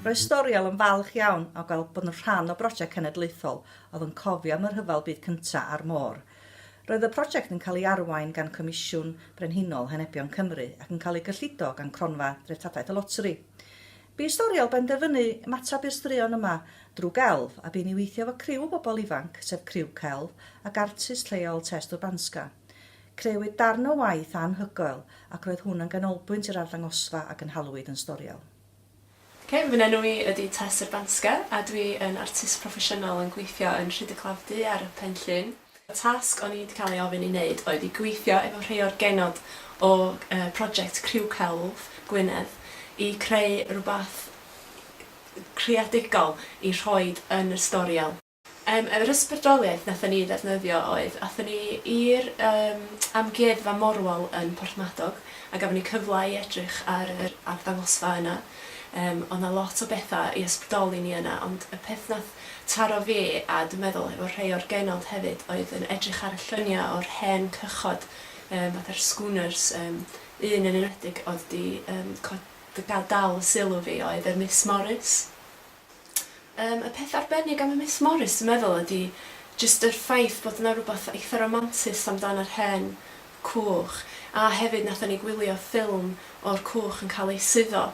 Roedd Storiel yn falch iawn o gael bod yn rhan o brosiect cenedlaethol oedd yn cofio am y Rhyfel Byd Cyntaf a'r môr. Roedd y prosiect yn cael ei arwain gan Comisiwn Brenhinol Henebion Cymru ac yn cael ei gyllido gan Cronfa Dreftadaeth y Loteri. Bu Storiel benderfynu ymateb i'r straeon yma drwy gelf a bu'n i weithio efo criw o bobl ifanc, sef criw celf ac artist lleol Test Urbanska. Crëwyd darn o waith anhygoel ac roedd hwn yn ganolbwynt yr arddangosfa a gynhaliwyd yn Storiel. Ok, fy enw i ydi Tess Urbanska a dwi yn artist proffesiynol yn gweithio yn Rhyd-y-claf-du ar Pen Llŷn. Y tasg o'n i'n cael ei ofyn i wneud oedd i gweithio efo rhei o'r genod o project Criw Celf Gwynedd i creu rhywbeth creadigol i rhoi yn y storiel. Yym yr ysbrydoliaeth nathon ni ddefnyddio oedd athon ni i'r yym Amgueddfa Morwal yn Porthmadog a gafon ni cyfle i edrych ar yr arddangosfa yna. Yym o'dd 'na lot o betha i ysbrydoli ni yna ond y peth nath Taro fi, a dwi'n meddwl efo rhei o'r genod hefyd, oedd yn edrych ar y lluniau o'r hen cychod, yym, fatha'r schooners, yym, un yn enwedig oedd 'di, yym, co- d- ga- dal y sylw fi oedd y Miss Morris. Yym, y peth arbennig am y Miss Morris, dwi'n meddwl, ydi jyst yr ffaith bod 'na rwbath eitha' romantus amdan yr hen Coch, a hefyd nathon ni gwylio ffilm o'r coch yn cael ei suddo,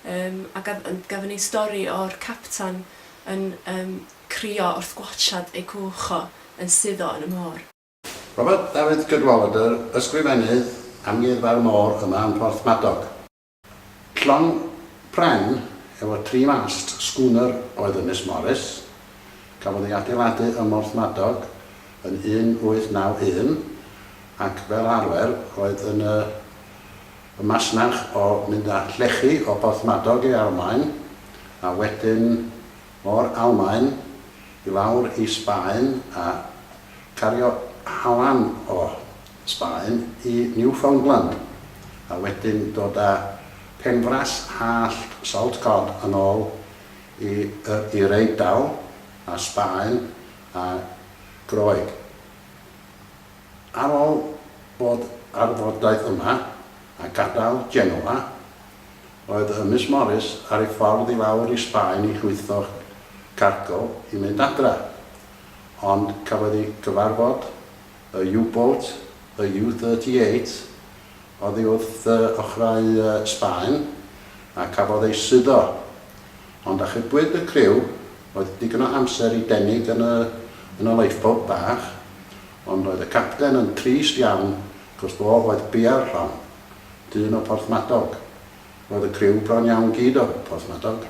yym a gaf- yn gafon ni stori o'r captan yn yym crio wrth gwatshad ei gwch o yn suddo yn y môr. Robert Davitt Cadwaladr, Ysgrifennydd Amgueddfa'r Môr yma yn Porthmadog. Llong pren efo tri mast schooner oedd y Miss Morris. Cafodd ei adeiladu ym Mhorthmadog yn 1891 ac fel arfer oedd yn y y masnach o mynd â llechi o Borthmadog i Almaen a wedyn o'r Almaen i lawr i Sbaen a cario halan o Sbaen i Newfoundland, a wedyn dod â penfras hallt salt cod yn ôl i Yr Eidal a Sbaen a Groeg. Ar ôl bod ar y fordaith yma a gadael Genoa, oedd y Miss Morris ar ei ffordd i lawr i Sbaen i llwytho cargo i mynd adra, ond cafodd ei gyfarfod Y U-Boat, y U-38, oddi wrth ochrau Sbaen a cafodd ei suddo, ond achubwyd y criw, oedd digon o amser i denig yn y lifeboat bach, ond oedd y capten yn drist iawn cos fo oedd Bia'r Llong, dyn o Porthmadog. Roedd y criw bron iawn gyd o Porthmadog.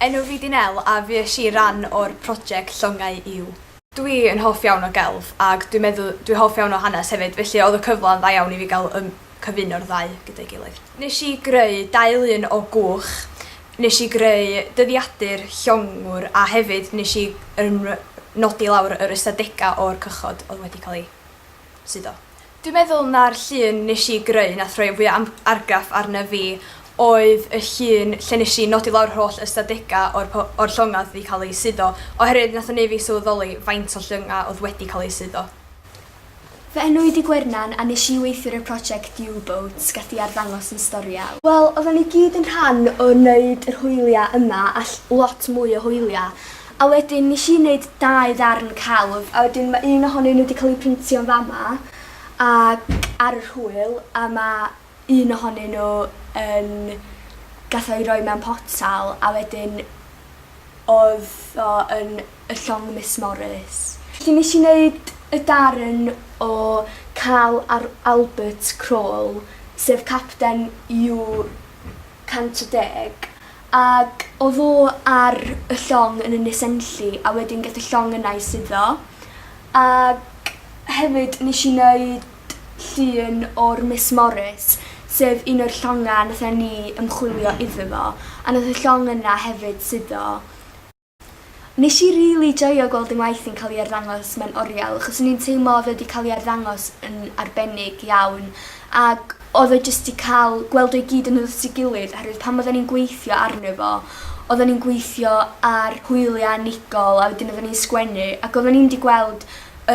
Enw fi 'di Nel a fuesh i ran o'r project Llongau Iw. Dwi yn hoff iawn o gelf ag dwi'n meddw dwi hoff iawn o hanes hefyd felly odd y cyfla yn dda iawn i fi ga'l ym cyfuno'r ddau gyda'i gilydd. Nesh i greu dau lun o gwch, nesh i greu dyddiadur llongwr a hefyd nesh i yn nodi lawr yr ystadega o'r cychod odd wedi ca'l i suddo. Dwi'n meddwl na'r llun nesh i greu nath roi fwya am- argraff arna fi oedd y llun lle nesh i nodi lawr yr holl ystadega o'r po- o'r llonga odd 'di ca'l eu suddo oherwydd nath o neu' fi sylweddoli faint o llynga odd wedi ca'l eu suddo. Fy enw i Di Gwernan a nesh i weithiwr y project U boat gath i arddangos yn Storia. Wel oddan ni gyd yn rhan o neud yr hwylia yma a ll- lot mwy o hwylia A wedyn nes i neud dau ddarn celf a wedyn ma' un ohonyn nhw 'di cael ei printio yn fama ac ar yr hwyl a ma' un ohonyn nhw yn gath o'i roi mewn potel a wedyn odd o yn y llong Miss Morris. Felly nes i neud y darn o Karl Ar- Albert Krol sef capten You 110, ac o ddo ar y llong yn Ynys Enlli a wedyn geth y llong yna ei suddo, ac hefyd nes i neud llun o'r Miss Morris sef un o'r llonga nathen ni ymchwilio iddo fo a nath y llong yna hefyd suddo. Nes i rili joio gweld yn waith yn ca'l i arddangos mewn oriel achos o'n i'n teimlo odd e 'di ca'l i arddangos yn arbennig iawn ag odd o jyst 'di ca'l gweld o i gyd yn dod at ei gilydd oherwydd pan odden ni'n gweithio arno fo odden ni'n gweithio ar hwylia unigol a wedyn odden ni'n sgwennu ac odden ni'm 'di gweld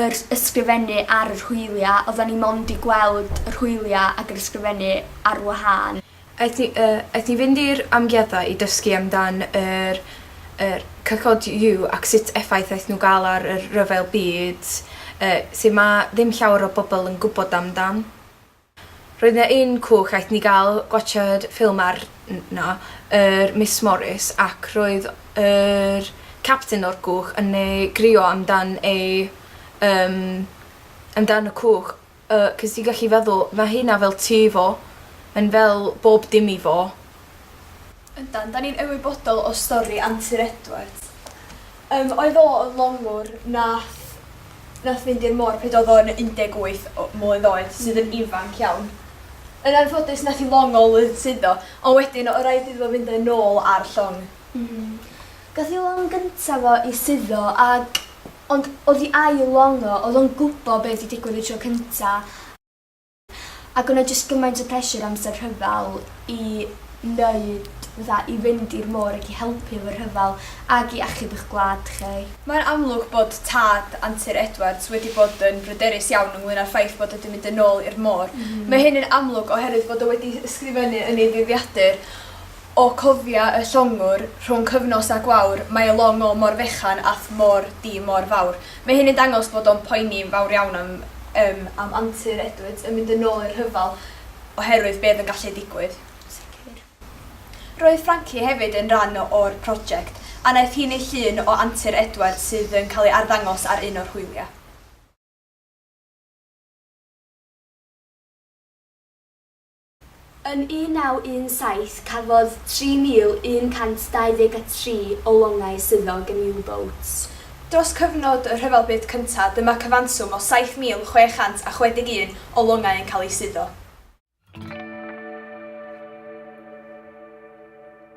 yr ysgrifennu ar yr hwylia odden ni mond 'di gweld yr hwylia ag yr ysgrifennu ar wahân. Aeth hi yy aeth hi fynd i'r amgueddfa i dysgu amdan yr yr cychod you ac sut effaith aeth nhw ga'l ar yr rhyfel byd yy sy ma ddim llawer o bobol yn gwbod amdan. Roedd 'na un cwch aeth ni ga'l gwatshad ffilm ar n- no yr Miss Morris ac roedd yr capten o'r cwch yn yy grio amdan ei yym amdan y cwch yy 'c'os ti gallu feddwl ma' hynna fel tŷ fo. Mae'n fel bob dim i fo. Yndan, 'dan ni'n ymwybodol o stori Antur Edwards. Yym oedd o yn longwr nath nath fynd i'r môr pryd oedd o'n 18 o- mlwydd oed sydd yn ifanc iawn. Yn anffodus nath 'i long o lwyddsuddo ond wedyn o' raid iddo fo fynd â nôl ar llong. Hmm. Gath ei long gynta fo i suddo ag ond o'dd i ail long o, o'dd o'n gwbo be' 'di digwydd y tro cynta ag o' 'na jyst gymaint o pressure amser rhyfel i neud fatha i fynd i'r môr ag i helpu efo'r rhyfel ag i achub y'ch gwlad chi. Mae'n amlwg bod tad Antur Edwards wedi bod yn bryderus iawn ynglŷn â'r ffaith bod o 'di mynd yn ôl i'r môr. Mae hyn yn amlwg oherwydd fod o wedi ysgrifennu yn ei ddyddiadur, O cofia y llongwr, rhwng cyfnos a gwawr, mae y long o mor fechan a'th mor di mor fawr. Mae hyn yn dangos bod o'n poeni'n fawr iawn am yym am antur Edwards yn mynd yn ôl i'r rhyfel oherwydd be oedd yn gallu digwydd. Sicr. Roedd Frankie hefyd yn ran o'r project, a naeth hi neu llun o antur Edwards sydd yn cael ei arddangos ar un o'r hwylia. Yn 1917 cafodd 3,123 o longau swyddog yn U-boats. Dros cyfnod y Rhyfel Byd Cyntaf dyma cyfanswm o 7,661 o longau yn cael eu suddo.